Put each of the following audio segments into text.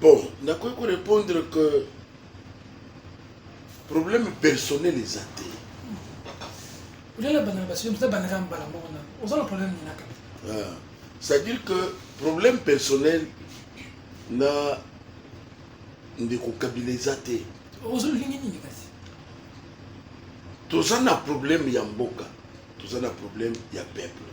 Bon, nakoki ko répondre que problème personnel eza te. Olela bana basi mpe bana kama bala moko na. Oza na problème nini kaka? Ah, c'est-à-dire que problème personnel na ndeko Kabila eza te. Ozo lingi nini kasi? Toza na problème ya mboka, toza na problème ya peuple.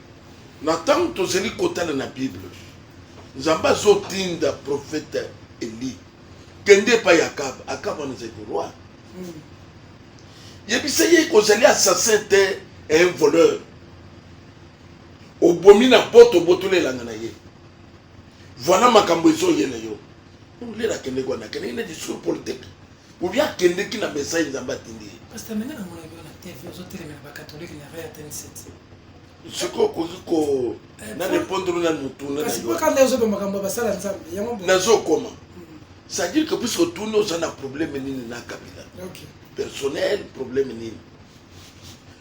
Na ntango tozali kotala na Bible, Nzambe azotinda profeta Eli kende epai ya Akaba. Akaba wana ezali roi. Hmm. Yebisa ye kozali assassin te un voleur. Obomi na poto obotoli elanga na ye. Voilà makambo ezoye na yo. Olela akendeki wana akendeki na discours politique. Obi akendeki na message Nzambe atindi ye. Pasteur, menge na mona yo na TV ozotelemela bakatolike na Rea 27. sikoyo okoki ko eh, na repondre na motuna nazokoma c'est-à-dire que puisque otuni oza na problème nini na kabila personnel problème nini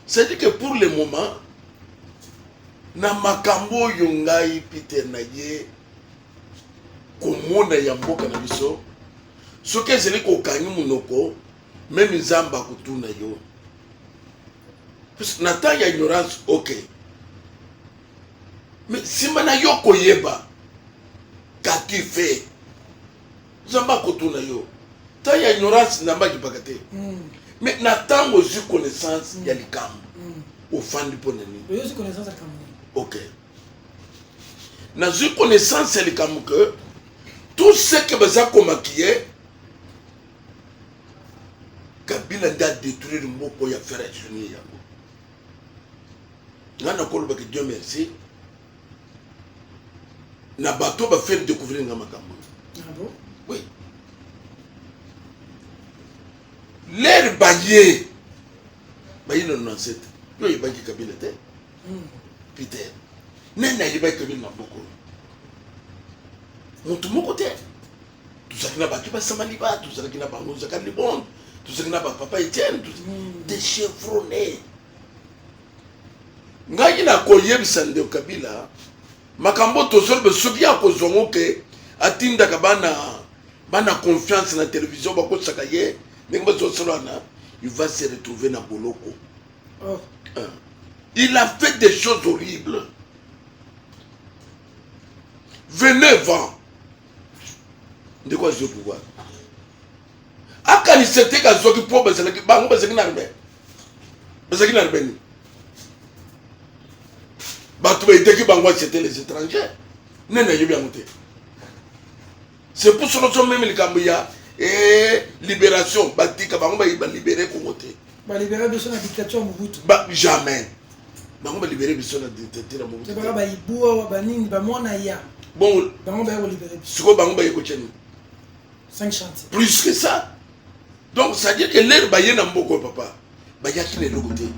c'est-à-dire que pour le moment na makambo oyo ngai peter na ye komona ya mboka na biso soki ezali kokangi monoko meme nzambe akotuna yo na temps ya ignorance ok me nsima na yo koyeba kaki fe nzambe akotuna yo temps ya ignorance nzambe akipaka te mm. me na ntango ozwi connaissance mm. ya likambo mm. ofandi mpo na nini ok nazwi connaissance ya likambo ke tout ce que baza komakiye kabila nde adetruire moko ya fere sunie yango ngai nakolobaki dieu merci na bato bafere découvrir nga makambo ah oui lere baye baye na nonsete yo oyebaki kabila te hmm. peter nani ayebaki kabila na bokolo motu moko te tozalaki na bato basamali ba tozalaki na bango zaka libonde tozalaki na bapapa etienne mm. de chevrone ngai nakoyebisa ndeko kabila makambo tozoloba soki akozwa ngo ke atindaka bana bana confiance na televizio bakosaka ye ndenge bazosolana il va se retrouver na boloko oh. euh. il a fait des choses horribles venez vent ndeko azwi pouvoir akanisa te kazwaki mpo bazalaki bango bazalaki na arme bazalaki na arme nini bato baitaki bango acete les étrangers nde nayebi yango te c'est pour solo so meme likambo ya eh, libération batika bango balibere kongo te balibere biso na dictature mobutu jamais bango ba libere biso na dictature ya mobutu baka ba ibua ba nini ba mwana ya bon bango ba ko libere biso siko bango ba ko tchani 5 chantiers plus que ça donc ça dire que l'air ba yena mboko papa ba ya kile loko te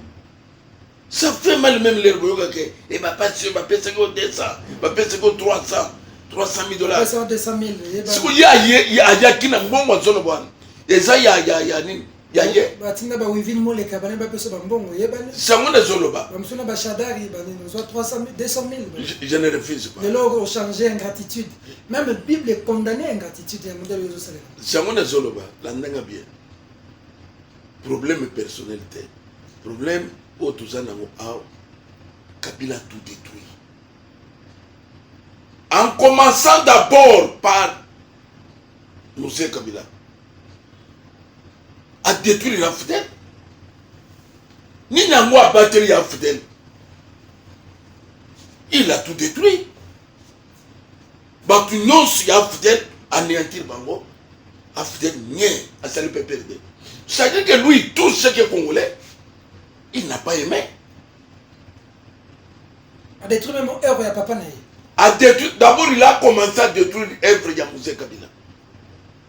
ça fait mal même l'air boyo ka ke et ba pas sur ba pesa ko 200 ba pesa ko 300 300 000 dollars pesa 200 000 siko ya ya ya kina mbongo zono bwana eza ya ya ya nini ya ye batinda ba wivine moleka bana bapesa bambongo yebani sango nazoloba bamosusu na bashadari banini ozwa 200000 je ne refuse pas lelo ochange ingratitude même bible econdamne ingratitude ya modele ozosalela sango nazoloba landanga bien problème personnel te problème oyo toza nango awa kabila tout détruit en commençant d'abord par mose kabila a détruire ya fidèle nini yango abateli ya fidèle il a tout détruit bato nyonso ya fidèle anéantir bango afidèle nie asali mpe perde c'est-à-dire que lui tout ce qui est congolais il n'a pas aimé adétruit même œuvre ya papa na ye adétruit d'abord il a commencé à détruire œuvre ya mose kabila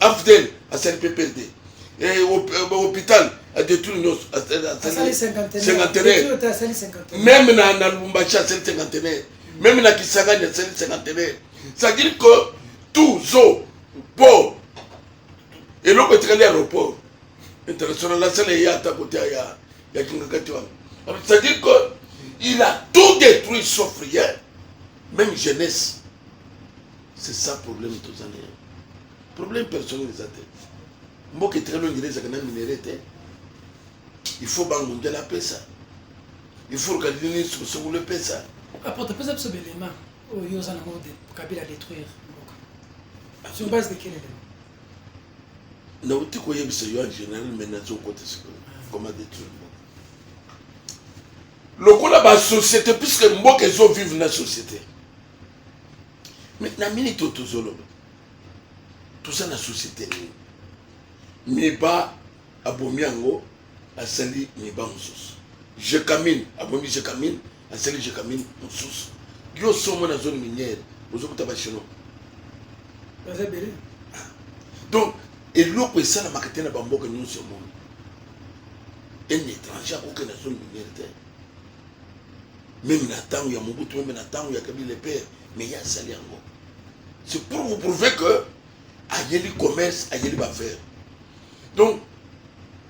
afdel asali mpe perde eh, eh, hôpital adetruire nyonso asali cinquantenaire meme na lubumbashi asali cinquantenaire meme na kisangani asali cinquantenaire c'est-à-dire que tout zo po eloko etikali aéroport international asala eye ata kote ya kingakati wana c'est-à-dire que il a tout détruit sauf rien même jeunesse c'est ça problème toza na yango problème personnel eza te mboka etikali oyo ngele ezalaka na minere te il faut bangundela apesa il faut kalilini sukosokolo epesa apote pesa biso belema oyo oza nango kabila détruire mboka ah. sur base de quel élément nauti koyebisa yo en général mais nazokota sikoyo ah. koma détruire mboka lokola basociété puisque mboka ezovive na société Mais na minute oyo tozoloba toza na société nini miba abomi yango asali miba mosusu jekamine abomi jekamine asali jekamine mosusu yo somo na zone minière ozokuta bachinois baza ebele ah. donc eloko esalamaka te na bamboka nyonso ya monde un étranger akokende na zone minière te meme na ntango ya mobutu meme na ntango ya kabila pere me ye asali yango c'est pour vous prouver que ayeli commerce ayeli baffaire donc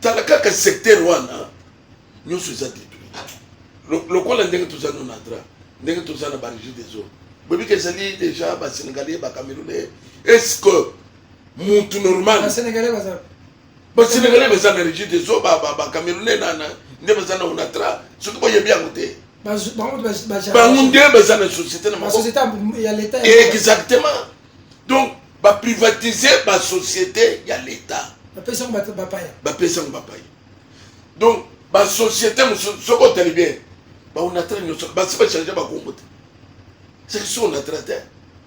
tala kaka secteur wana nyonso eza détruit lokola ndenge toza no na dra ndenge toza na barigi des eaux boyebi ke ezali déjà basénégalais bacamerounais est ce que mutu normal ba Senegalais baza na rigide te zo ba ba ba Camerounais na na nde baza na onatra soki boyebi yango te bango nde baza na société na maboko exactement donc ba privatiser ba société ya l'état bapesi yango bapaya bapesi yango bapaya donc ba société mosusu soki otali bien ba onatra nyonso basi ba change ba kombo te c'est que si onatra te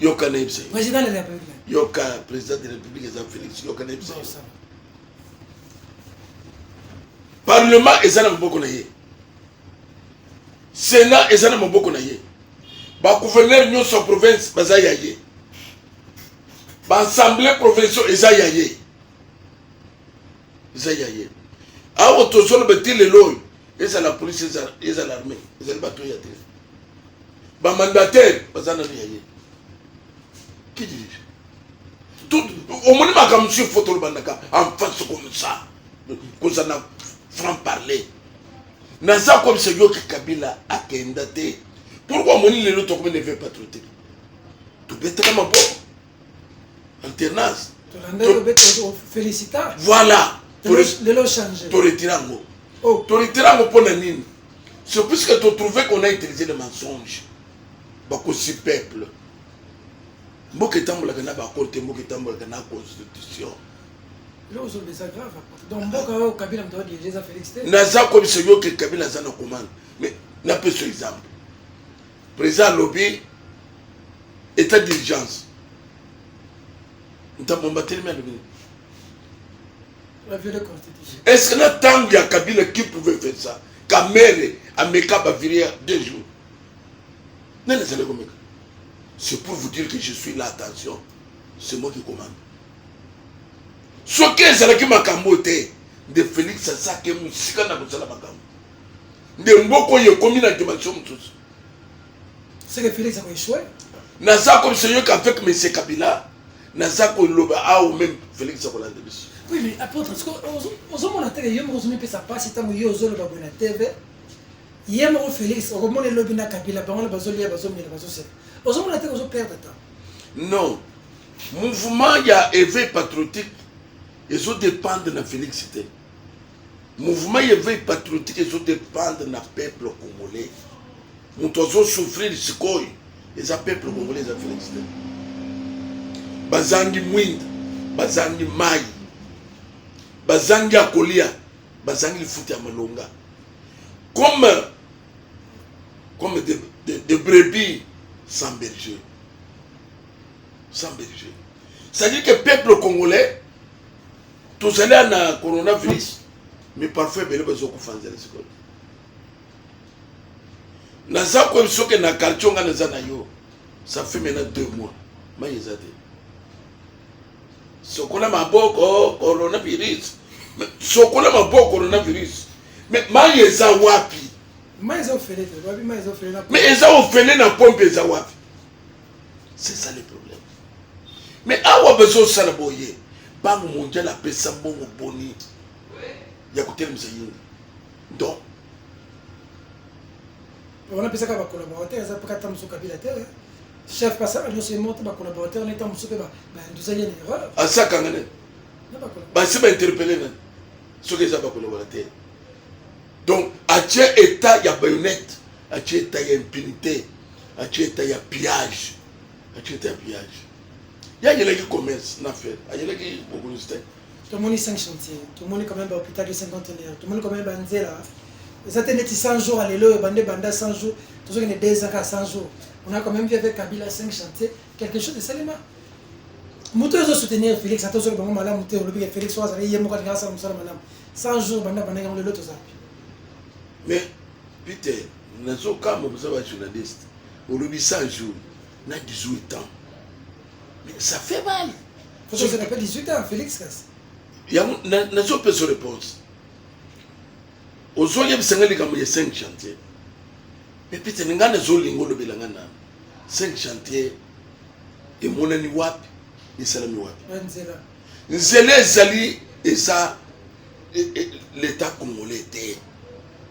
yoka na yebisa président de la république yoka président de la république eza félix yoka na yebisa parlement eza na maboko na ye sénat eza na maboko na ye bagouverneur nyonso ya province baza ya ye baassemblée provinciaux eza ya ye eza ya ye awa tozoloba ti lelo oyo ezala polise ezala armée ezali bato ya te ba mandataire baza nanu ya ye qui dirige tout omoni makambo mosusu fo tolobandaka en face comme ça koza na franc parler naza comme se yoki kabila akenda te pourkoi omoni lelo tokomi neve patriotique tobetaka maboko alternance voilà toretira yango oh. toretira yango mpo na nini c'est puisque totrouve qu'on a utilisé le mensonge bakosi peuple mboka etambolaka na bakolo te mboka etambolaka na constitution naza kobisa yo ke kabila aza na komanda mais napeso exemple Président alobi état d'urgence. Ntambo mbatelemi alobi nini? Est-ce que na tango ya Kabila qui pouvait faire ça? Kamere ameka ba viria deux jours. Nani azali komeka? C'est pour vous dire que je suis là, attention. C'est moi qui commande. soki ezalaki makambo te nde félix asaki mosika na kosala makambo nde mboka oyo ekomi na dimension mosusu naza komisa yoka avec monsieur kabila naza koloba awa meme felix akolanda biso oui mais apôtre ozomona te yo moko ozomipesa mpasi ntango yo ozoloba boye na tv ye moko felix okomona elobi na kabila bango na bazolia bazomela bazoseka ozomona te ozoperdre temps non mouvement ya éveil patriotique ezodépendre na felix te Mouvement ya veille patriotique ezo dépendre na peuple congolais. Moto azo souffrir sikoyo eza peuple congolais eza Felix te. Bazangi mwinda, bazangi mai, bazangi ya kolia, bazangi lifuta ya malonga. Comme comme des de, de brebis sans berger. Sans berger. C'est-à-dire que peuple congolais tozali ya na coronavirus mi parfois ebele bazokufa nzela sikoyo naza koyebi soki na quartier nga naza na yo ça fait maintenant deux mois mai eza te sokola maboko coronavirus sokola maboko coronavirus me mai eza wapi mai eza ofele na pompe eza wapi c'est ça le problème mais awa bazosala boye bango mondial apesa mbongo boni ya kotelemisa yini donc wana apesaka bacolaborateur eza mpaka ata mosusu kabila te eh. chef pasaka nyonso emota bacolaborateur neta mosusu mpe banduzali na erreur asakanga nani basi bainterpele nani soki eza bacolaborateur donc atie etat ya bayonete atie eta ya impunité atie eta ya pillage atie eta ya pillage ye ayelaki commerce na fere ayelaki bokonzi te tomoni 5 chantier tomoni quand même bahôpital de 50 heures tomoni quand même banzela eza te neti 100 jours alelo oyo bande banda 100 jours tozokende 2 ans kaka 100 jours on a quand même vu avec kabila 5 chantier quelque chose esalema moto oyo ezosoutenir félix ata ozoki bango malamu te olobi ke félix oyo azali ye moko alinga asala mosala malamu 100 jours banda bandaki yango lelo tozapi mais Peter, nazo kamba boza ba journaliste. Olobi 100 jours na 18 ans. Mais ça fait mal. Faut que je n'ai pas 18 ans Felix Kas. Ya nazo pesa réponse. Ozo yebisa ngai likambo ya 5 chantier. Mais Peter nga nazo lingo lobela nga na 5 chantier emonani wapi esalami wapi nzela ezali eza e, e, leta congolais te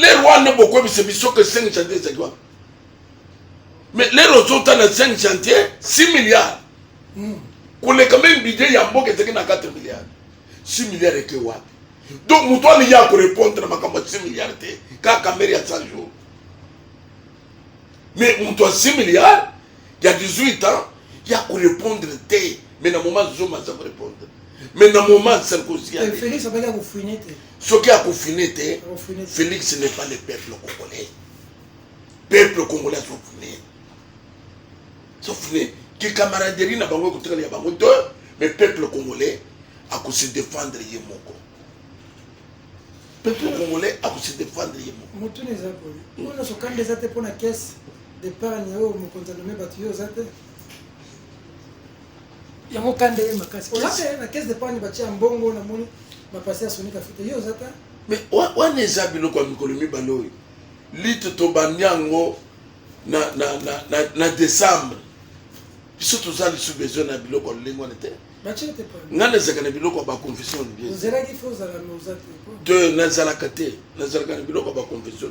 lere wana bokoyebisa biso ke 5 chantier ezali wana mais lere ozotala 5 chantier 6 milliard hmm. koleka meme budget ya mboka ezalaki na 4 milliard 6 milliard eke wapi donc moto wana ye akorepondre na makambo ya 6 milliard te kaka mere ya 100 jour mais moto ya 6 milliard ya 18 ans ya korepondre te mais na moment zoma aza korepondre mais na moment sarkozy eh, soki akofine te félix n'est pas le peuple congolais peuple congolais azofine sofine kikamaraderie na bango ekotikala ya bango te mais peuple congolais akose défendre ye moko peuple congolais akose défendre ye moko motuna eza boye oyo nyonso kanda eza te mpo na caisse d'épargne oyo mokonzi anome bato yo oza te yango kanda ye makasi olaka ye na caisse de panye batia mbongo na moni bapasi ya sonika fita yo oza ta me wana eza biloko ya mikolo mibale oyo lite tobandi yango na, na, na, na, na décembre biso toza lisu besoin na biloko ya lolenge wana te ngai nazalaka na biloko ya baconfession te nazalaka te nazalaka na biloko ya baconfession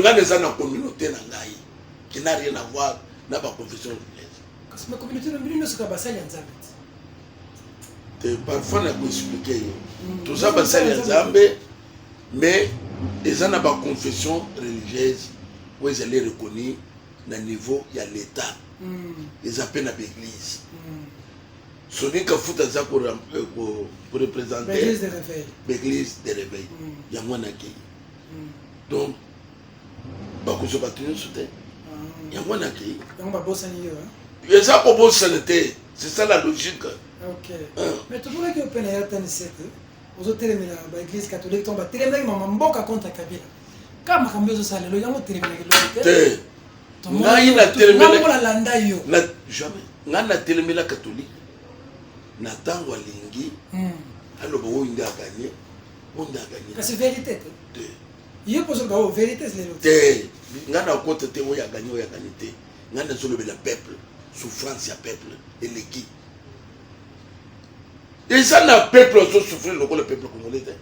ngai eza na communauté na ngai qui n'a rien à voir na ba confession religieuse kasi ma communauté na bino nyonso kaka basali ya nzambe te parfois na koexplike yo mm. toza basali ya nzambe mais eza na ba confession religieuse oyo ezali reconnue na niveau ya l'état mm. eza mpe na baeglise mm. Sony Kafuta aza ko euh, représenter l'église de réveil mm. yango wana akei mm. donc bakozwa bato nyonso te ah. yango wana akei eza kobosana te c'est ça la logique ok ah. mais tomonaki ope na yatanisete ozotelemela baeglise catholique to batelemelaki mama mboka contre kabila kaka makambo ezosalelo yango otelemelaki lobi te ngai natelemela katolike na ntango alingi hmm. aloba oyo nde aganye oyo nde aganye kasi verité te te ye kozoloba oyo verité lelo te ngai nakota te oyo aganye oyo aganye te ngai nazolobela peuple souffrance ya peuple eleki eza na peuple azosouffrir lokola peuple congolais te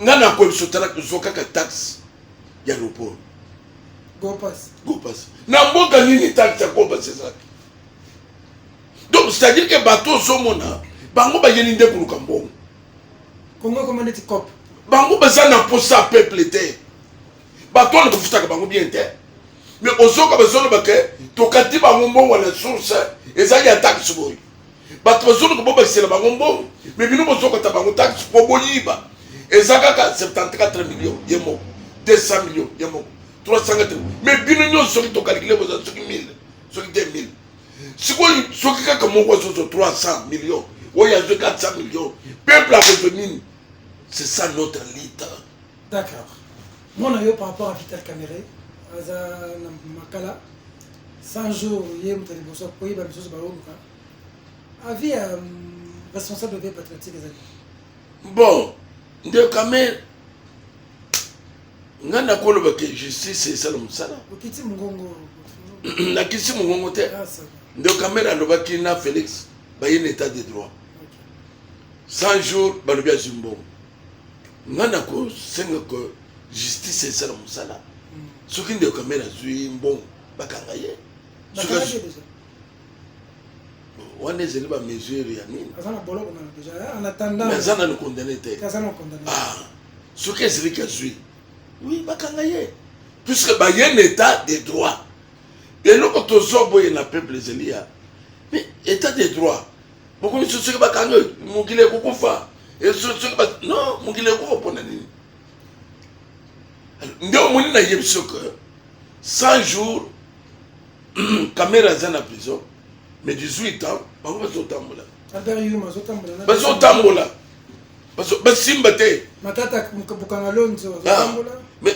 nga na ko biso tala zo kaka taxe ya aéroport gopas gopas na mboka nini taxe ya gopas ezalaki donc c'est à dire que bato ozomona bango bayeli nde koluka mbongo kongo ekoma neti cop bango baza na mposa ya peuple te bato wana kofutaka bango bien te mais ozoka bazoloba ke tokati bango mbongo na source ezali ya taxe boye bato bazoluka bobakisela bango mbongo me bino bozokata bango taxe mpo boyiba eza kaka 74 million ye moko 200 million ye moko 300 me bino nyonso soki tokalikile boza soki 1000 soki 2000 sikoyo soki kaka moko azozwa 300 million oyo azwi 400 million peuple akozwa nini c'est ça notre lita D'accord. Mwana yo par rapport à Vital Kamerhe aza na makala 100 jours ye moto ya liboso akoyeba misusu baoluka avis ya responsable de patriotique ezali bon nde Kamerhe nga nakoloba ke justice esala mosala okiti mongongo nakisi mongongo te nde Kamerhe alobaki na Felix baye na état de droit 100 jours balobi azwi mbongo nga nakosenga ko justice esala mosala mm. soki ndeko kamere azwi mbongo bakanga ye wana ezali bamesure ya nini aza nanu condamne te ah, soki ezalaki azwi wi bakanga ye puisque baye na état de droit eloko tozoboye na peuple ezali ya mais état de droit bokomi sosoki bakangi mokili ekokufa esosoki ba non mokili ekokufa mpona nini nde omoni na yebi soki 100 jours kamera aza na prison mais 18 ans bango bazotambola bazotambola basimba te ah, mais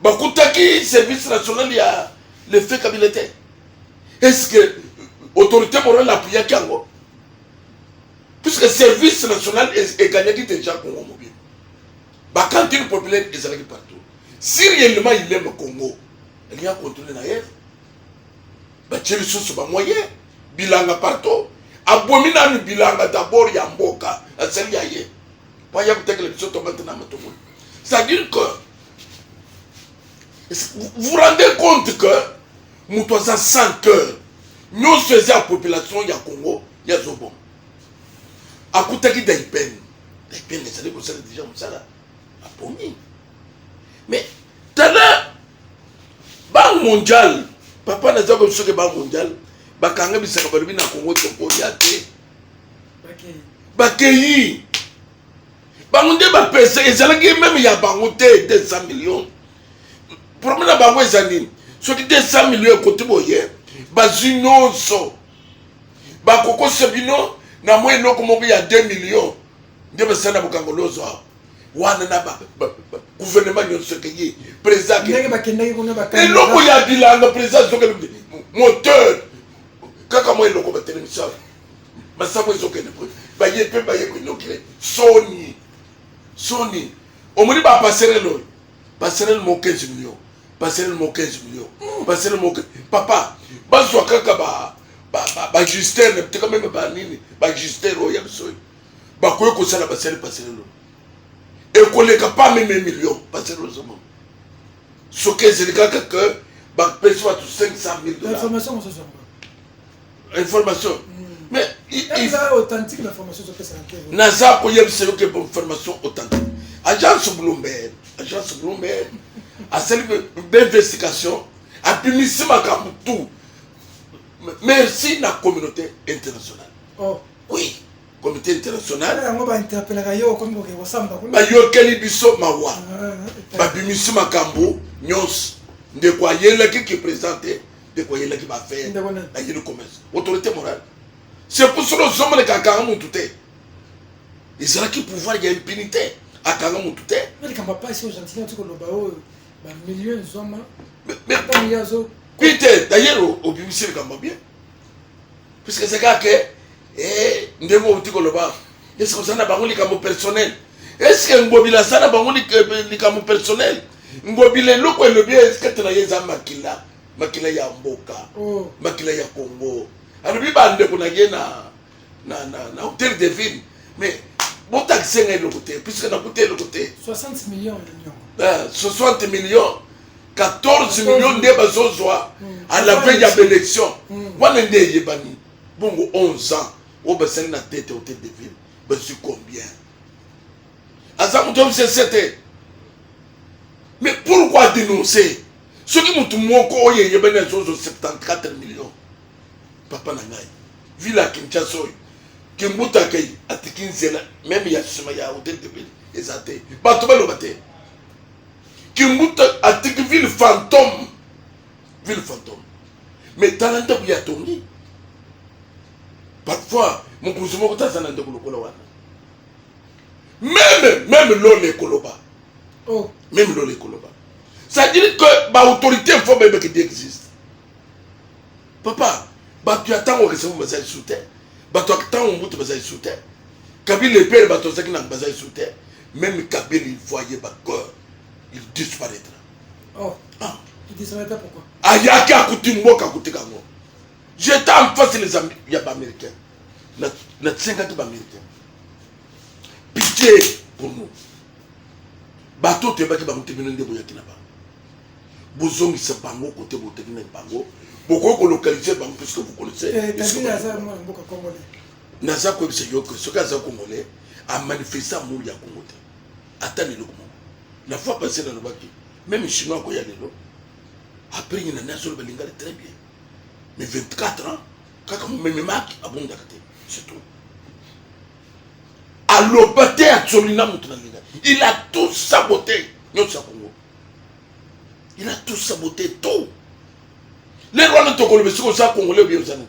bakutaki service national ya le fait kabila te est ce que autorité morale apuyaki yango puisque service national egagnaki déjà congo mobile bacantine populaire ezalaki partout si réellement il aime congo elingi akontrole na ye batie lisusu bamoyen bilanga partout abomi nanu bilanga dabord ya mboka asali ya ye baya kotekela biso tomate na matungulu c'est-à-dire que vous rendez compte que moto aza sans cœur nyonso eza ya population ya congo ya zobo akutaki daipene daipene ezali kosala deja mosala apongi mais tala banque mondiale papa naza kosoki banque mondiale bakanga bisaka balobi na congo tokolia te bakeyi bango nde bapesa ezalaki meme ya bango te 200 million problème na bango eza nini soki 200 million ekoti boye bazwi nyonso bakokosa bino na mwa eloko moko ya 2 million nde basala na bokango lozo awa wana na guvernema nyonso ekeye président eloko ya bilanga président azokende moteur kaka mwa eloko batelemisa masango ezokende po baye mpe baye koinokile soni soni omoni bapaserele oyo paserele mo 15 million paserele mo 15 million paserele mo papa bazwa kaka ba bajustere na biteka meme banini bajustere oyo ya biso oyo bakoki kosala basali paserele oyo ekoleka pa meme million paserele ozomona soki ezali kaka ke bapesi bato 500 000 dollars information mosusu information hmm. mais authentique na formation ezopesa naza koyebisa yo ke formation authentique agence bloomberg agence bloomberg asali beinvestigation abimisi makambo tout merci na communauté internationale oh. oui comité international yango bainterpelaka yo okomi koke kosamba kuna bayokeli biso mawa babimisi makambo nyonso ndeko ayelaki ki président te ndeko ayelaki bafere ayeli commerce autorité morale c'est pour cela ozomoneka akanga mutu te ezalaki pouvoir ya impunité akanga mutu te likambo apasi oyo gentilien oti koloba oyo bamilio ezwama ata miliazo pite dayero obimisi likambo bien puisque c'est kaka ke eh, ndenge outi koloba est ce que oza na bango likambo personnel est ce que ngobila aza na bango likambo personnel ngobila eloko elobi eskate na ye eza makila makila ya mboka oh. makila ya congo alobi bandeko na ye na, na, na, na hotel de ville mais botakise ngai eloko te puisque nakuta eloko te 60 millions 60 millions 14 millions nde bazozwa mm. à la veille ya baélection mm. wana nde eyebani bongo 11 ans oyo basali na tete hotel de ville bazwi combien aza moto obisese te mais pourquoi dénoncer soki motu moko oyo eyebani azozwa 74 millions papa na ngai ville ya kinshasa oyo kimbuta akei atiki nzela meme ya nsima ya hotel de ville eza te bato baloba te Kimbuta atiki ville fantôme, ville fantôme. Mais tala ndako ya tongi. Parfois mokonzi moko taza na ndeko lokola wana. Meme meme lola ekoloba. Oh. Meme lola ekoloba. C'est-à-dire que ba autorité faut bebe qui existe. Papa, bato ya ntango okesemo bazali su te bato ya ntango mobutu bazali su te kabila epele bato bazalaki na bazali su te Meme Kabila, il voyait ba cœur, il disparaîtra. Oh. Ah. Il disparaîtra pourquoi? Ayaki akuti mboka akutika ngo. J'étais en face les amis ya ba américains. Na na tsengaki ba américains. Pitié pour nous. Bato toyebaki bango te bino nde boyaki na bango. Bozongisa bango kote botekinaki bango. Bokoki kolokalize bango puisque vous connaissez. Eh, Kabila aza mwana mboka congolais. naza koyebisa yo ke soki aza congolais amanifeste amour ya congo te ata lelo moko la fois passé nalobaki meme chinois akoya lelo après ye nani azoloba lingala très bien mais 24 ans kaka momememaki abondaka te surtout aloba te atsoli na moto na lingala il a tout sabote nyonso ya congo il a tout sabote tout lelo wana tokoloba esika oza congolais obi oza nani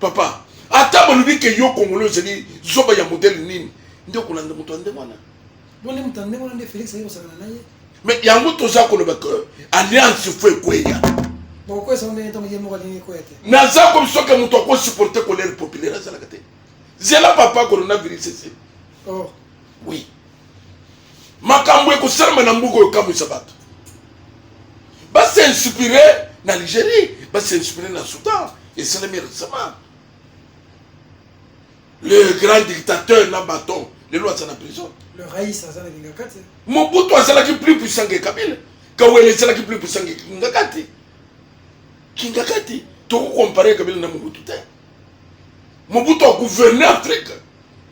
papa ata balobi ke yo kongolo ozali zoba ya modele nini nde okolanda moto ya nde wana bonde moto ya nde wana nde felix aye kosakana na ye me yango toza koloba ke alliance fo ekweya bokokwesa ngo ndenge ntango ye moko alingi ekweya te naza komi soki moto akosupporte colere populaire azalaka te zela papa coronavirus ese oh. oui makambo ekosalama na mboka oyo ekamwisa bato basinspire na algérie basinspire na soudan esalami récemment le grand dictateur na baton lelo aza na prison mobutu azalaki plus puissant ke kabila kawele ezalaki plus puissant ke kingakati kingakati tokokompare kabila na mobutu te mobutu agouverne afrique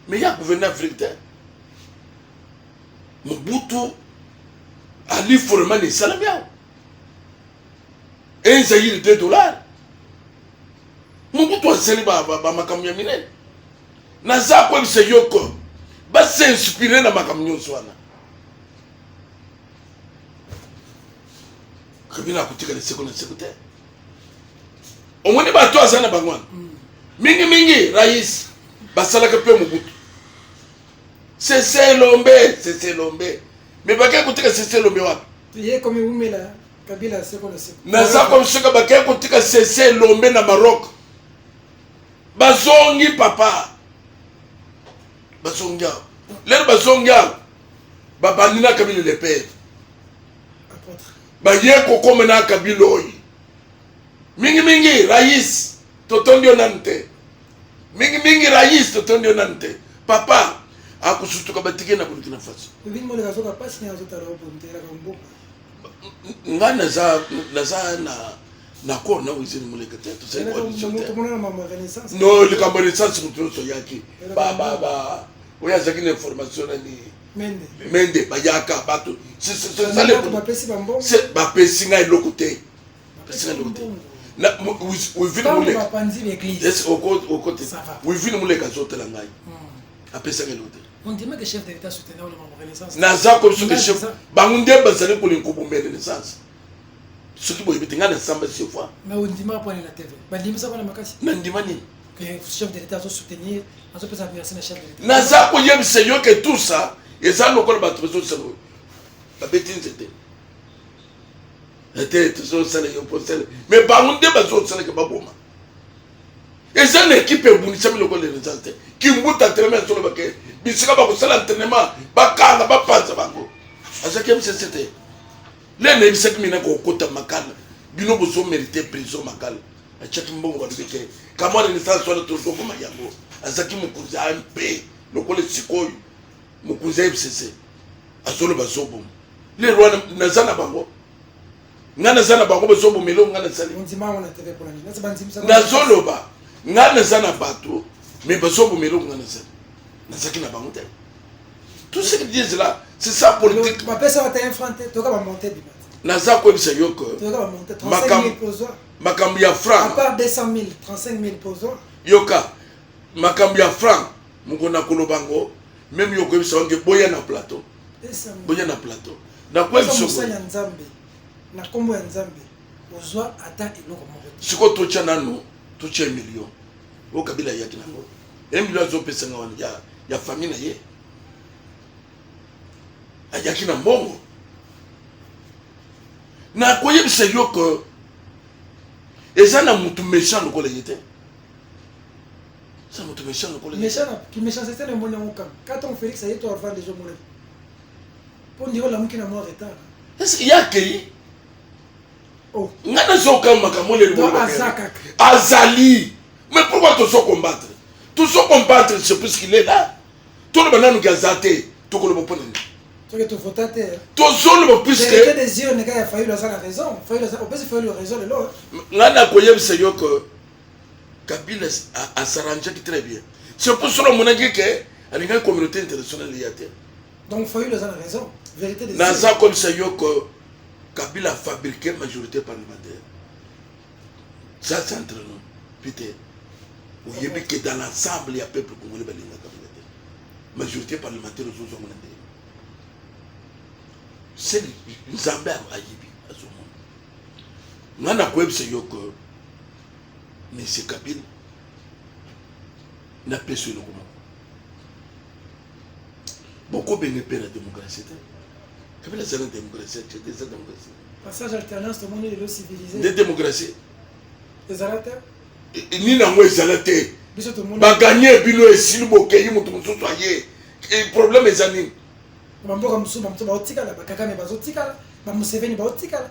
mais ya gouverne afrique te mobutu ali forema na esalami awa un zaire de dollar mobutu asali bamakambo ya minene naza koyebisa yoko basinspire na makambo nyonso wana kabila akotikala seko na seko te omoni bato aza na bango wana mm. mingi mingi rais basalaka mpe mobutu seselombe seselombe me bakei kotika seselombe wapi naza komisoka bakei kotika seselombe na maroc bazongi papa bazongi awa lelo bazongi awa babandi na kabila lepere baye kokomenaka biloi mingimingi rais totondi yo nanu te mingimingi rais totondi yo nanu te papa akosutuka batike na burkina faso nga naza naza na na kor na wizini moleka te no likambo ya renaissance moto nyonso oyaki oyo azalaki na information nani mende bayaka bato bapesi ngai eloko te wivine moleka azotela ngai apesaki eloko te naza kobiso bango nde bazali kolinga kobomela renaissance soki boyebi te ngai nasamba se fois mais ondima pone na tv bandimisa mpona makasi nandima nini chef de l'état azosoutenir azopesa merci na chef de l'état naza koyebisa yo ke tout ça eza lokola bato bazosala oyo babeti nzete ete tozosala yo posele me bango nde bazosalaka baboma eza na ekipe ebundisami lokola renaissance te kimbuta telema ya solo bake bisika bakosala entraînement bakanga bapanza bango azaki mcc te nde nayebisaki mina kokota makala bino bozo merite prison makala atiaki mbongo balobi te kamwana naissance wana tozokoma yango azalaki mokonzi a mpe lokola esika oyo mokonzi ya fcc azoloba zoboma lelo wana naza na bango ngai naza na bango bazoboma eloko ngai nasali nazoloba ngai naza na bato me bazoboma eloko ngai nasali nazalaki na bango te tout ce qu'ils disent là c'est ça politique bapesa bata un franc te toyoka bamonte bima naza koyebisa yo ke makambo ya franc yoka makambo ya franc moko nakoloba yango meme yo koyebisa wange boya na plateau boya na plateau nakoyebisomosali ya nzambe na nkombo ya nzambe ozwa ata eloko moko sikoyo totya nano totya million o kabila ayaki nango un million azopesa nga wana ya, ya famille na ye ayaki na mbongo nakoyebisa yo ke eza na motu méchant lokola ye te eza motu méchant lokola kiméchancete na moni yango kaka katango félix aye to avant deja omona mpo ndiro olamuki na mwa retard ye akei oh. nga nazokanga makambo oyo azali mais pourquoi tozo combattre tozo combattre je sais plus qu'il est là toloba nanu ke aza te tokoloba mpo na nini tozoloba puiskengai nakoyebisa yo ke kabila asaranjaki très bien c'est pour solo amonaki ke alingaki communauté internationale ya te naza komisa yo ke Kabila fabriquer majorité parlementaire. Ça c'est entre nous. Peter, oyebi que dans l'ensemble ya peuple congolais balinga Kabila te. Majorité parlementaire ozozongo na ndenge. C'est Nzambe ayebi azomona. Nga nakoyebisa yo que Monsieur Kabila napesi eloko moko bokobenge mpe na demokrasi te kabila aza na demokrasi atie te eza demokrasi passage alternance tomoni lelo civilise nde demokrasi ezala te nini yango ezala te baganye bino esili bokeyi moto mosusu aye problème eza nini bamboka mosusu bamosusu baotikala bakakame bazotikala bamuseveni baotikala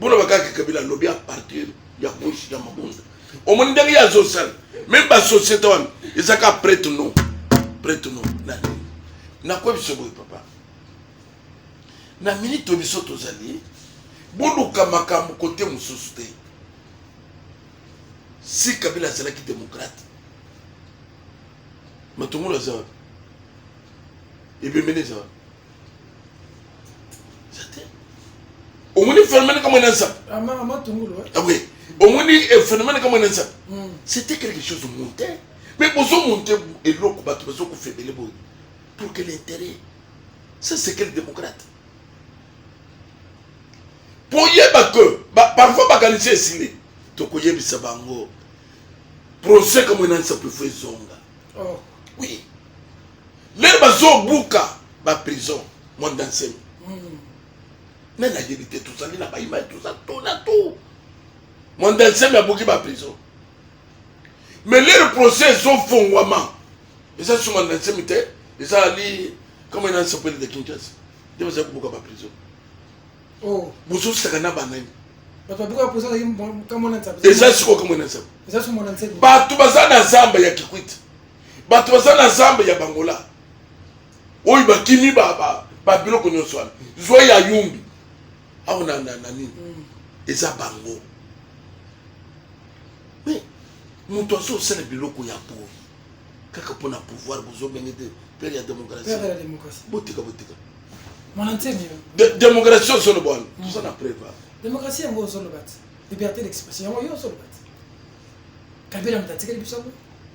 Bono bakaki kabila lobi à partir ya kushi ya mabunda. Omoni ndenge ya zosal. Même ba société wana ezaka prête non. Prête non. Na na quoi biso boy papa. Na minute biso tozali boluka makambo kote mosusu te. Si kabila azalaki démocrate matungulu aza wapi ebembeni eza wapi omoni phénomène kama ena nsape oui omoni phénomène kama ena nsape c'était quelque chose de monté mais bozomonte eloko bato bazokufa ebele boye pour quel intérêt ça c'est quel démocrate boyeba que parfois bakanisi esili tokoyebisa bango procès kamwe na nsapo efo ezonga oh. oui lelo bazobuka baprison monde ensemi hmm. nani ayebi te tozali na baimai toza to na to monde ensemi abuki baprison mais lelo procès ezofongwama eza su monde ensemi te ezali kama ena nsepeli de kinshasa nde bazali kobuka baprison oh. bozosaka na banani eza sikoyo kamwe na nzambe bato baza na zamba ya kikwiti bato baza na zamba ya bangola oyo bakimi babiloko nyonso wana zwa ya yumbi awa na nini mm. eza bango me moto azosala biloko ya boye kaka mpo na pouvoir bozobenge te pere ya démocratie botika botika démocratie ozoloba wana mm. toza na preva démocratie yango ozoloba te liberté d'expression yango yo ozoloba te kabila moto atikeli biso yango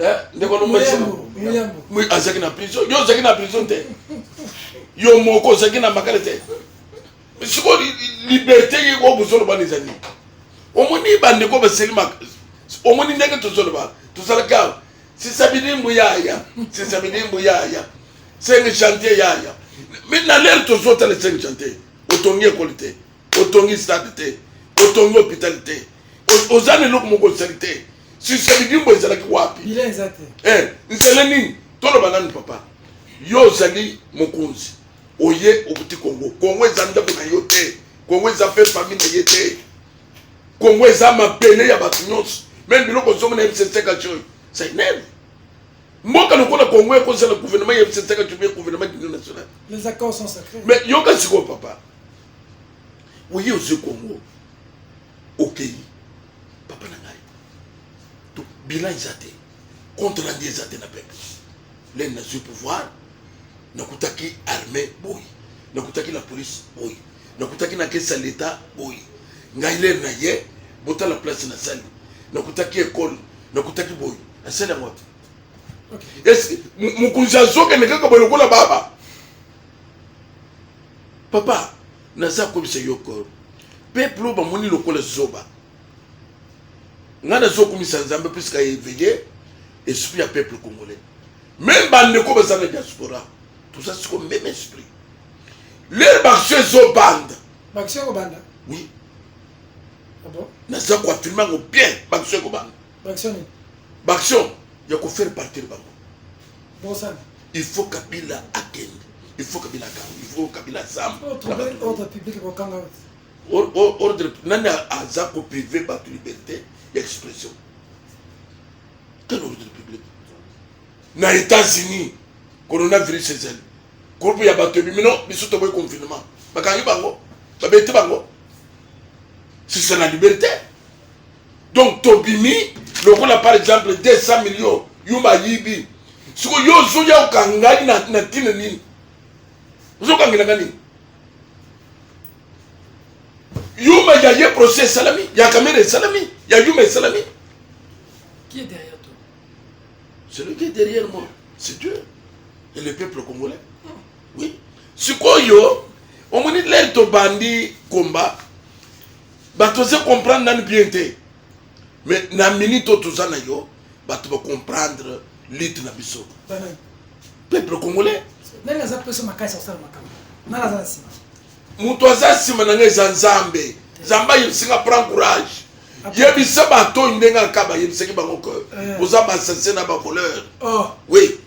Eh, ndeko lomoi azalaki na prison yo ozalaki na prison te yo moko ozalaki na makala te siko liberté ye oyo bozoloba na ezali omoni bandeko baseli omoni ndenge tozoloba tozalaki awa sisabidi mbuyaya sisabidi mbuyaya senge chantier yaya mi na lere tozotala senge chantier otongi ekoli te otongi stade te otongi hôpital te oza na eloko moko osali te sisa bidimbo ezalaki wapi eh, nzela nini toloba nanu papa yo ozali mokonzi oye okuti kongo kongo eza ndako na yo te kongo eza mpe fami na ye te kongo eza mabele ya bato nyonso meme biloko ozongo na msesekaci oyo sainene mboka lokola kongo ekozala gouvernement ya msesekaci mpe gouvernement dunion national mais yoka sikoyo papa oye ozwi kongo okei papa na ngai to bilan eza te contre rendu eza te na peuple lene nazwi pouvoir nakutaki armée boye nakutaki na police boye nakutaki na kesi ya leta boye ngai lene na ye botala place nasali nakutaki ekole nakutaki boye asali yango te mokonzi azokende kaka boye lokola baba papa naza koyebisa yo ke peuple oyo bamoni lokola zoba ngai nazokumisa nzambe puisque aéveille esprit ya peuple congolais meme bandeko baza na diaspora toza siko meme esprit lere baction ezobanda baction ekobanda oui ah naza koafirme yango bien baction ekobanda baaction ya kofaire partir bango il faut kabila akende il faut kabila akanga il faut kabila azaordre nani aza koprive bato liberté ya expression quel ordre public na états-unis coronavirus ezali groupe ya bato ebimi no biso toboyi confinement bakangi bango babeti bango si c'est la liberté donc tobimi lokola par exemple 200 millions yuma ayibi siko yo ozoya okangai na, na ntina nini ozokangelaka nini yuma ya ye procès esalami ya kamera esalami ya yuma esalami qui est derrière toi celui qui est derrière moi c'est dieu et le peuple congolais ah. oui sikoyo omoni lere tobandi komba bato oza comprendre nani bien te mais na minute oyo toza na yo bato ba comprendre lutte na biso peuple congolais nani aza pesa makasi akosala makambo nani aza na nsima moto aza nsima na ngai eza nzambe nzambe ayebisinga prend courage yebisa bato oyo ndenge aka bayebisaki bango ke eh. boza basasie na bavoleur oh. oui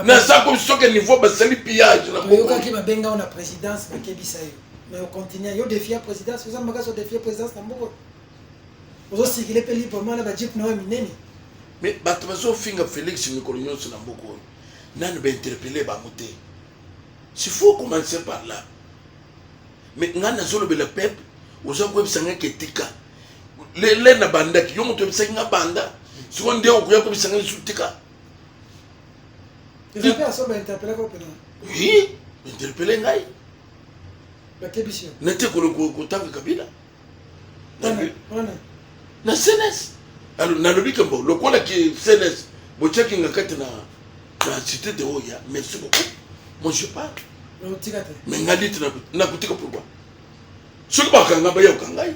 naza ko soki niveau basali pillage na oyokaki babenga na présidence bakebisa yo mais ocontinue yo defia présidence oza makasi odefia présidence na mboko ozosikile mpe librement na bajeep na oyo minene mais bato bazofinga félix mikolo nyonso na mboko oyo nanu bainterpele bango te si faut commencer par là mais ngai nazolobela peuple oza koyebisa ngai ketika lele na bandaki yo moto oyebisaki ngai banda sikoyo nde okoya koyebisa ngai lisusu tika eza mpe asoba interpele ko mpena oui interpele ngai bakebisi yo nete kotanga kabila na cns nalobi kembo lokola ki cns botyaki nga kati na na cité de oya merci beaucoup mon je parle me ngai liti nakotika pourkoi soki bakanga bayoka ngai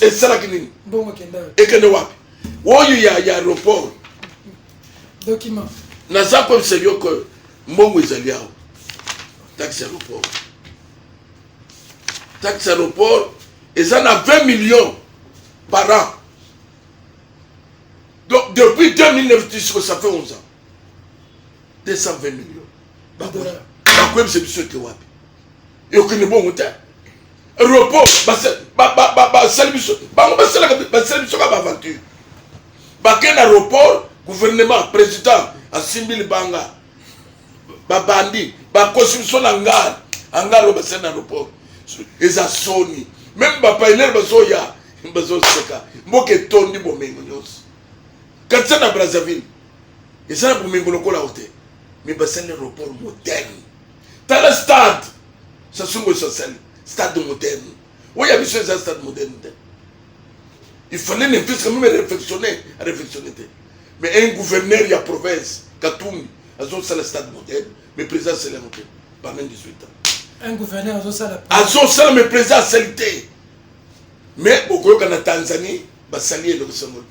esalaki nini ekende wapi oyo ya ya aéroport document naza koyebisa yo ke mbongo ezali awa taxe aéroport taxe aéroport eza na 20 millions par an donc depuis 2009 tisiko ça fait 11 ans 220 millions bakoyebisa biso ete wapi ekokende bongo te repos basali biso bango basalaka basali biso ka baaventure bake na report gouvernement président asimbi libanga babandi bakosi biso na ngala angalo basali na report eza soni meme bapailere bazoya bazoseka mboka etondi bomengo nyonso katisa na brazzaville eza na bomengo lokola o te me basali report moderne tala stade sasungo sasali stade moderne oyo ya biso eza stade moderne te il fallait ne plus quand même réflexionner réflexionner te mais un gouverneur ya province katumbi azosala stade moderne mais président asali yango te pendant 18 ans un gouverneur azosala azosala mais président asali te mais bokoyoka na tanzanie basali eloko sango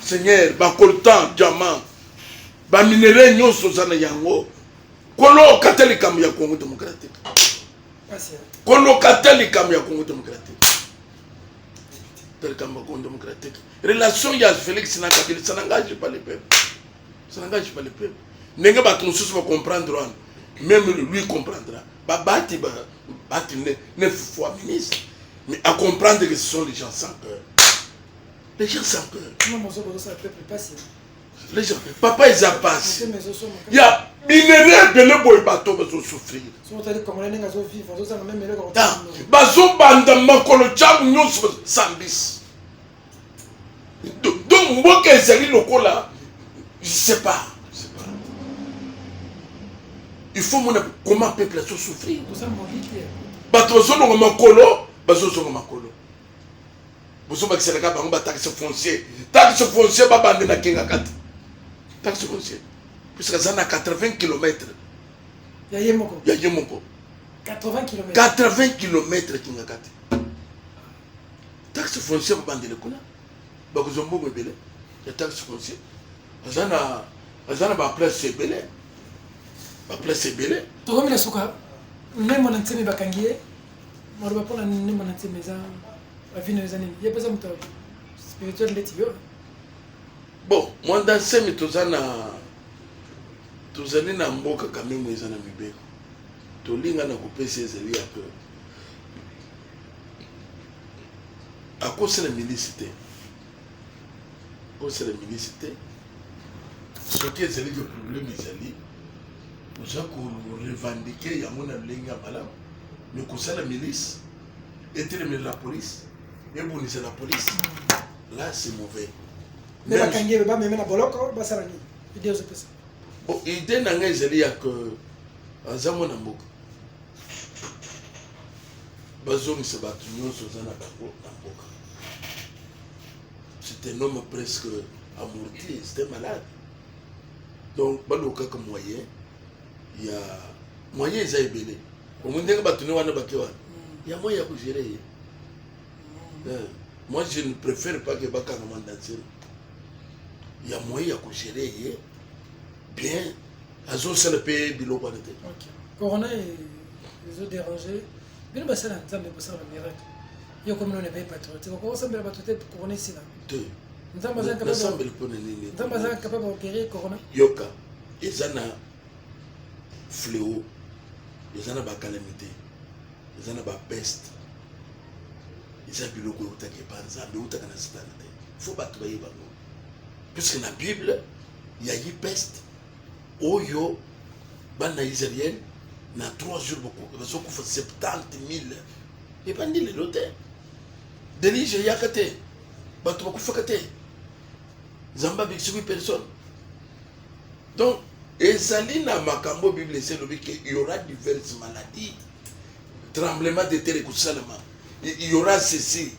seigneur bacoltan diamant baminerai nyonso oza na yango koloka te likambo ya congo démocratique koloka te likambo ya congo démocratique te likambo ya congo démocratique relation ya félix na kabila ça n'engage pas le peuple ça n'engage pas le peuple ndenge bato mosusu bacomprendre wana même lui comprendra babati bati neuf fois ministre mais à comprendre que ce sont les gens sans cœur Les gens sans peur. Non, mon zobo, ça peut pas passer. Les gens, papa, ils en passent. Il y a minerais de le boy bateau, mais ils souffrir. Bazo banda makolo jabu nyonso sambis. Donc mboka ezali lokola je sais pas. Il faut mona comment peuple azo souffrir. Bato bazolonga makolo, bazozonga makolo. bozo bakisela ka bango ba taxe foncier taxe foncier ba bande na kinga kati taxe foncier puisque aza na 80 km ya ye moko ya ye moko 80 km 80 km kinga kati taxe foncier ba bande le kuna ba ko zombo ko bele ya taxe foncier aza na aza na ba place ebele ba place ebele tokomi na suka memo na nsemi bakangi ye maloba mpo na ndembo na ntina eza bavino eza nini ye mpeza moto spirituel ndeti yo bon mwa dansemi toza na tozali na mboka kamemo eza na mibeko tolinga na kopesa ezali ya peuple akosi na milisi te osala ministre te soki ezali ke problème ezali oza korevendike yango na lolenge ya malamu me kosala milice etelemela la police ebundisa la police là c'est mauvais me bakangi ebe bameme na boloko basala nini ide ozopesa idée na ngai ezali ya ke aza mwana mboka bazongisa bato nyonso oza na bango na mboka c'est un homme presque amorti c'était malade donc balukaka moyen ya moyen eza ebele omoni ndenge bato ne wana bake wana ya moyen ya kogere ye mm. eh, moi je ne préfère pas ke bakanga mandanselo ya moyen ya kogere ye bien azosala mpe biloko wana te corona ezo déranger bino basala nzambe kosala bamiracle yo komi nona epai patriotique okoki osambela bato te corona esila te nzambe aza capable mpo na nini nzambe aza capable oguérir corona yoka eza na fléau eza na bacalamité eza na bapeste eza biloko eutaka epa nzambe eutaka na sitana te fo bato bayeba yango puisque na bible ya ye peste oyo bana israel na 3 jours bazokufa 70 000 ebandi lelo te delige eyaka te bato bakufaka te nzambe abikisiki personne donc ezali na makambo oyo bible esi elobi ke yaura diverse maladie tremblement de terre ekosalama yaura ceci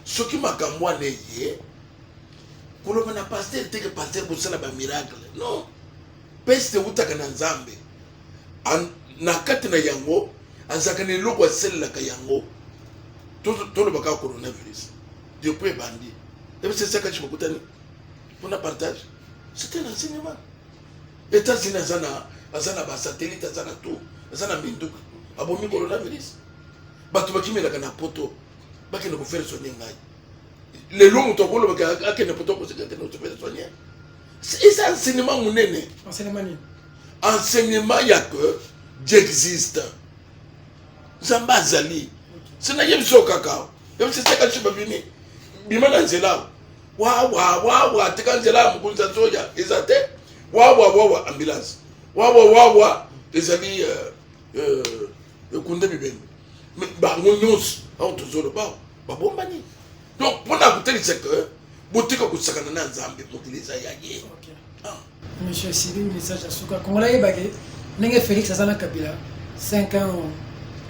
soki makambo wana eye koloba na pasteur teke pasteur bosala ba miracle non peste ewutaka na nzambe na kati na yango azalaka na eloko asalelaka yango tolobaka coronavirus depuis ebandi ebisa esakaki kokutani mpona partage c'était un enseignement états-unis aza na aza na basatellite aza na tout aza na minduka abomi coronavirus bato bakimelaka na poto bakende kofere soni ngai lelo moto akolobaka akende poto akoseka te noto pesa soigne eza enseignement monene enseignement ya que j'existe nzambe azali se nayebi so kaka yebisi seka biso babimi bima na nzela wawawawa tika nzela ya mokonzi ya soja eza te wawawawa ambulance wawawawa ezali euh, euh, ekunde bibembe me bango nyonso ao tozoloba babombani donc mpo na kotalisa ke botika kosakana na nzambe mokili eza ya ye ah. monsieur sibi message ya suka kongola yebake ndenge félix aza na kabila 5 ans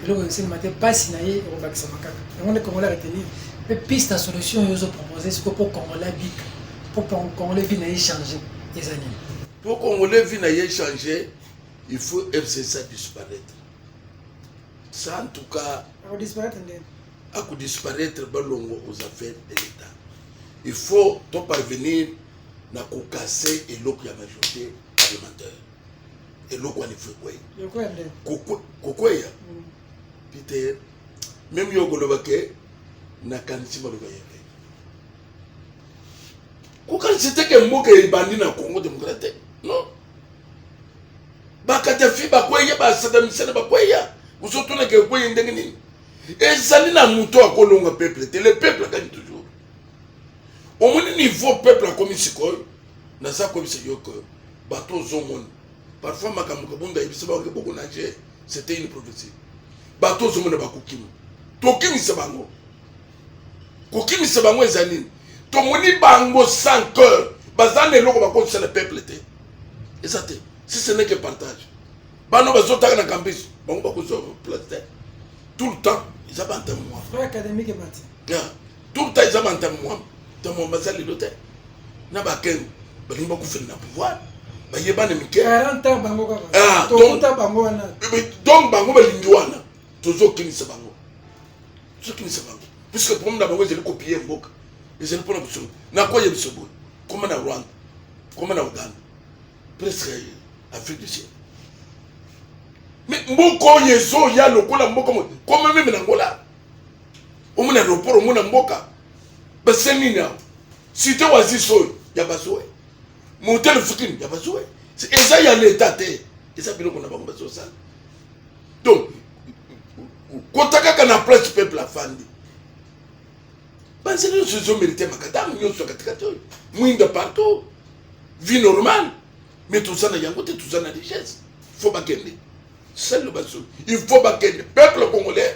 eloko esalema te mpasi na ye ekobakisama kaka yango nde kongola retenir mpe piste ya solution oyo ozopropose siko mpo kongola bika mpo kongola vi na ye change eza nini mpo kongola vi na ye change il faut FCC a disparaître ça en tout cas akodisparaître nde akodisparaître balongo aux affaires de l'État il faut to parvenir na kokase eloko ya majorité parlementaire eloko wana ifo ekweya kokweya mm. pite meme yo okoloba ke nakanisi maloba ya pe kokanisi te ke mboka ebandi na congo demokrate non bakadafi bakweya basadamisene bakweya ozotunaka ekweyi ndenge nini ezali na moto akolonga peuple te le peuple agani toujours omoni niveau peuple akomi sikoyo naza koyebisa yo ke bato ozomona parfois makambo kabunda ayebisa baoke boko nage c'était une prophétie bato ozomona bakokima tokimisa bango kokimisa bango eza nini tomoni bango sans cœur baza na eloko bakozisa na peuple te eza te si ce n'est que partage bano bazotaka na campus bango bakozwa place te tout le temps eza bantame mwa tout le temps eza bantame mwa ntamwa baza lelo te na bakeno balingi bakufeli na pouvoir bayebana mike donc bango balingi wana tozokimisa bango tozotunisa bango puisque problème na bango ezali kopie mboka ezali mpona mosolo na koye biso boye koma na rwanda koma na uganda presque afrique du ciel mais mboka oyo ezoya lokola mboka mo koma meme na ngola omona aeroport omona mboka basali nini awa site wazis oyo ya bazoe motele fukini ya bazuwe eza ya leta te eza biloko na bango bazosala donc kota kaka na place peuple afandi banzela nyonso ezomerite makadamu nyonso ya katikati oyo mwinda partout vie normale mais toza na yango te toza na richesse fo bakende selo baso il faut bakende peuple congolais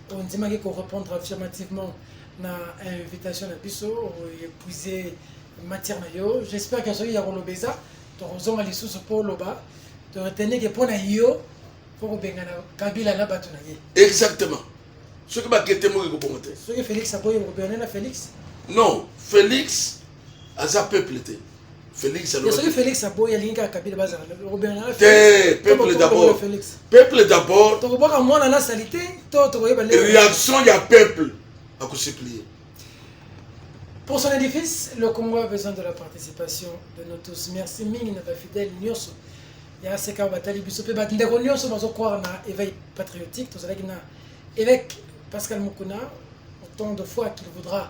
ondimaki ko répondre affirmativement na invitation na biso oepuise matière na yo j'espère que soki ya koloba eza tokozonga lisusu mpo oloba toretenike mpo na yo mpo kobengana kabila na bato na ye exactement soki bakete moki kobongo te soki félix aboyi okobengana na félix non félix aza peuple te Félix alors. Soki Félix aboyi alingi kaka Kabila bazala obengana te peuple d'abord. Peuple d'abord. Tokobwaka mwana na salite to tokoyeba lelo. Réaction ya peuple akosuplier. Pour son édifice, le Congo a besoin de la participation de nous tous. Merci mingi na ba fidèles nyonso ya seka batali biso pe bandeko nyonso bazokroire na éveil patriotique tozalaki na évêque Pascal Mukuna autant de fois qu'il voudra